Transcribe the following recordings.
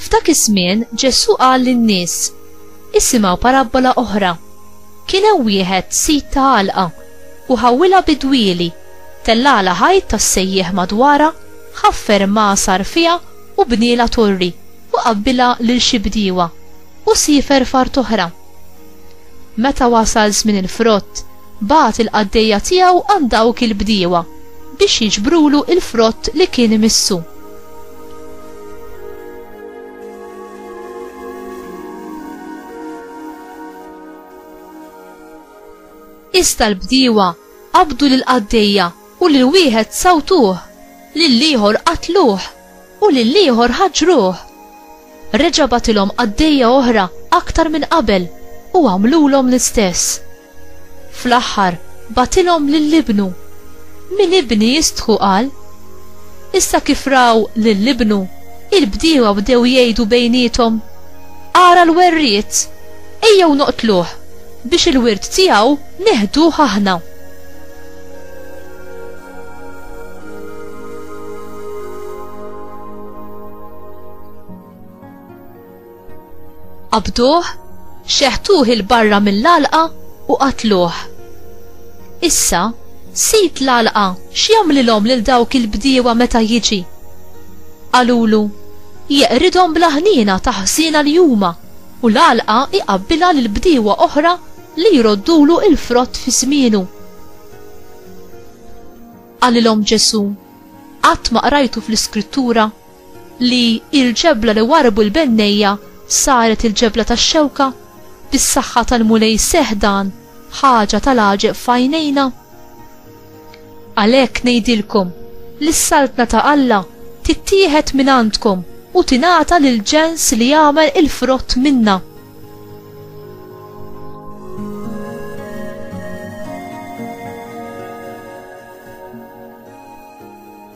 F'dak iż-żmien Ġesù qal lin-nies, Isimgħu parabbola oħra. Kien hemm wieħed sid ta' għalqa, u ħawwilha bi dwieli, tellagħlha ħajt tas-sejjieħ madwarha, ħaffer mgħasar fiha u bnielha torri, u qabbilha lil xi bdiewa, u siefer f'art oħra. Meta wasal żmien il-frott, Bagħat il-qaddejja tiegħu għand dawk il-bdiewa biex jiġbrulu l-frott li kien imissu. Iżda l-bdiewa qabdu lill-qaddejja u lil wieħed sawtuh, lill-ieħor qatluh. U lill-ieħor ħaġġruh. Reġa' bagħtilhom qaddejja oħra aktar minn qabel u għamlulhom l-istess. Fl-aħħar bagħtilhom lil ibnu. Min ibni jistħu qal. Issa kif raw lil ibnu, il-bdiewa bdew jgħidu bejniethom, Ara l-werriet! Ejjew noqtluh, biex il-wirt tiegħu neħduh aħna. Qabduh, xeħtuh il-barra mill-għalqa u qatluh. Issa, sid l-għalqa x'jagħmlilhom lil dawk il-bdiewa meta jiġi? Qalulu, jeqridhom bl-aħniena ta' ħżiena li huma u l-għalqa iqabbilha lil bdiewa oħra li jroddulu l-frott fi żmienu. Qalilhom Ġesù, Qatt ma qrajtu fl-Iskrittura li l-ġebla li warrbu l-bennejja saret il-ġebla tax-xewka? Bis-saħħa tal-Mulej seħħ dan, ħaġa tal-għaġeb f'għajnejna? Għalhekk ngħidilkom li s-Saltna ta' Alla tittieħed mingħandkom u tingħata lill-ġens li jagħmel il-frott minnha.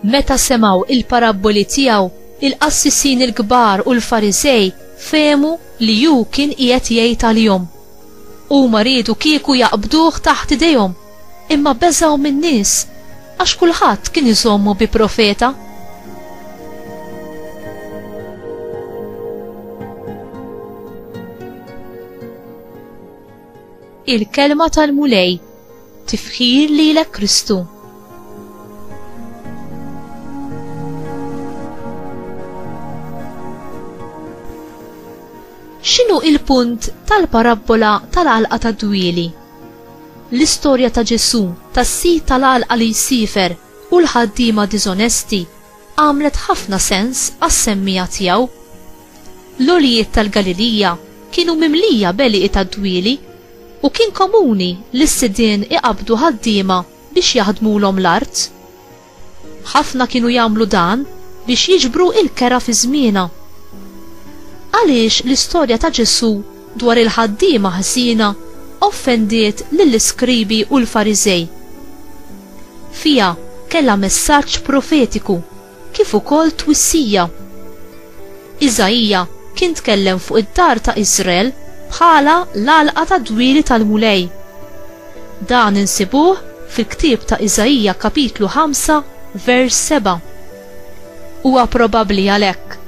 Meta semgħu il-parabboli tiegħu, il-qassisin il-kbar u l-Farisej fehmu li hu kien qiegħed jgħid għalihom. Huma riedu kieku jaqbduh taħt idejhom Imma beżgħu min-nies, għax kulħadd kien iżommu bi profeta. Il-Kelma tal-Mulej, tifħir lilek Kristu. X'inhu il-punt tal-parabbola tal-għalqa tad-dwieli? L-istorja ta' Ġesù, tas-sid tal-għalqa li jsiefer, u l-ħaddiema diżonesti għamlet ħafna sens għas-semmiegħa tiegħu. L-għoljiet tal-Galilija kienu mimlija b'għelieqi tad-dwieli, u kien komuni li s-sidien iqabbdu ħaddiema biex jaħdmulhom l-art. Ħafna kienu jagħmlu dan biex jiġbru l-kera fi żmienha. Għaliex l-istorja ta' Ġesù dwar il-ħaddiema ħżiena offendiet lill-iskribi u l-Fariżej? Fiha kellha messaġġ profetiku kif ukoll twissija. Iżaija kien tkellem fuq id-dar ta' Iżrael bħala l-għalqa tad-dwieli tal-Mulej. Dan insibuh fil-ktieb ta' Iżaija kapitlu 5 vers 7. Huwa probabbli għalhekk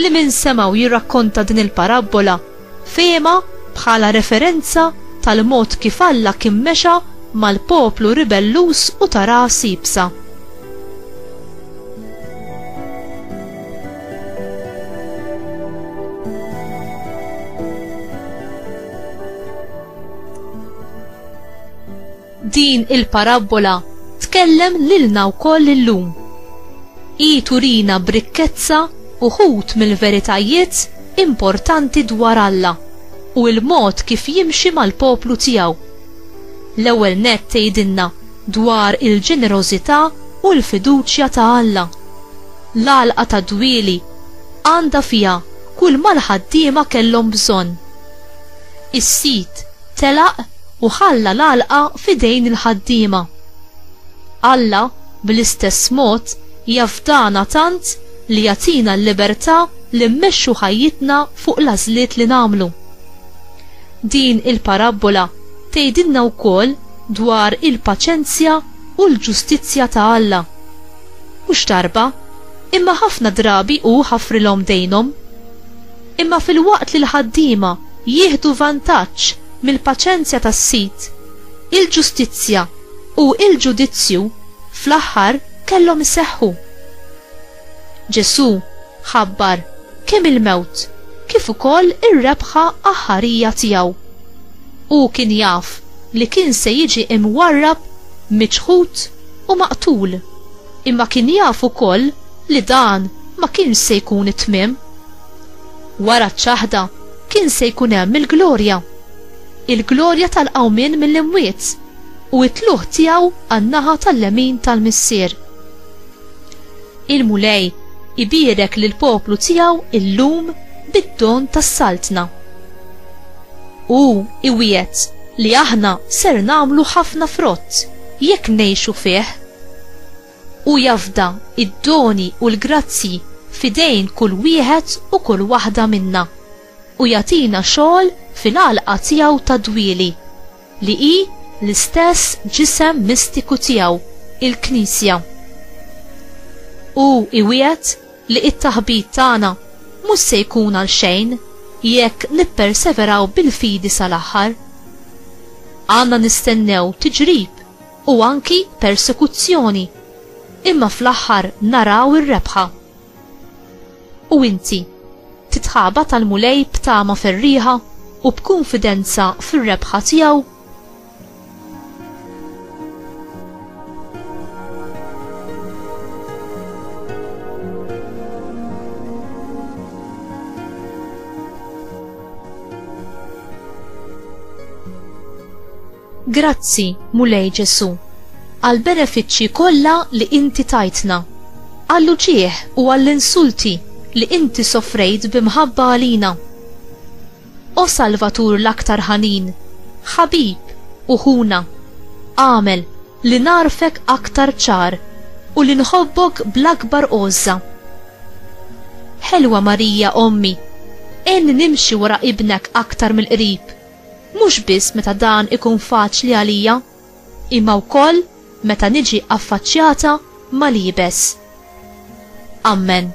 li min semgħu jirrakkonta din il-parabbola fehimha bħala referenza tal-mod kif Alla kien mexa mal-poplu ribelluż u ta' ras iebsa. Din il-parabbola tkellem lilna wkoll illum. Hi turina b'rikkezza uħud mill-veritajiet importanti dwar Alla u l-mod kif jimxi mal-poplu tiegħu. L-ewwel nett tgħidilna dwar il-ġenerożità u l-fiduċja ta' Alla. L-għalqa tad-dwieli għandha fiha kull ma l-ħaddiema kellhom bżonn. Is-sid telaq u ħalla l-għalqa f'idejn il-ħaddiema. Alla, bl-istess mod, jafdana tant li jagħtina l-libertà li mmexxu ħajjitna fuq l-għażliet li nagħmlu. Din il-parabbola tgħidilna wkoll dwar il-paċenzja u l-ġustizzja ta' Alla. Mhux darba, imma ħafna drabi hu ħafrilhom dejnhom. Imma filwaqt li l-ħaddiema jieħdu vantaġġ mill-paċenzja tas-sid, il-ġustizzja u l-ġudizzju fl-aħħar kellhom iseħħu. Ġesù ħabbar kemm il-mewt kif ukoll ir-rebħa aħħarija tiegħu. Hu kien jaf li kien se jiġi mwarrab, miċħud u maqtul, imma kien jaf ukoll li dan ma kienx se jkun it-tmiem. Wara ċ-ċaħda kien se jkun hemm il-glorja, il-glorja tal-qawmien mill-imwiet u t-tlugħ tiegħu għan-naħa tal-lemin tal-Missier. Il-Mulej ibierek lill-poplu tiegħu llum bid-don tas-Saltna. Hu iwiegħed li aħna ser nagħmlu ħafna frott jekk ngħixu fih. Hu jafda id-doni u l-grazzji f'idejn kull wieħed u kull waħda minna, u jagħtina xogħol fil-għalqa tiegħu tad-dwieli, li hi l-istess ġisem mistiku tiegħu, il-Knisja. Hu iwiegħed li t-taħbit tagħna mhux se jkun għal xejn jekk nipperseveraw bil-fidi sal-aħħar. Għandna nistennew tiġrib u anki persekuzzjoni, imma fl-aħħar naraw ir-rebħa. U inti, titħabat għall-Mulej b'tama ferrieħa u b'kunfidenza fir-rebħa tiegħu? Grazzi, Mulej Ġesù, għall-benefiċċji kollha li inti tajtna, għall-uġigħ u għall-insulti li inti sofrejt bi mħabba għalina. O Salvatur l-aktar ħanin, ħabib u ħuna, agħmel li nagħrfek aktar ċar u li nħobbok bl-akbar għożża. Ħelwa Marija Ommi, għenni nimxi wara Ibnek aktar mill-qrib mhux biss meta dan ikun faċli għalija, imma wkoll meta niġi affaċċjata mal-iebes. Ammen.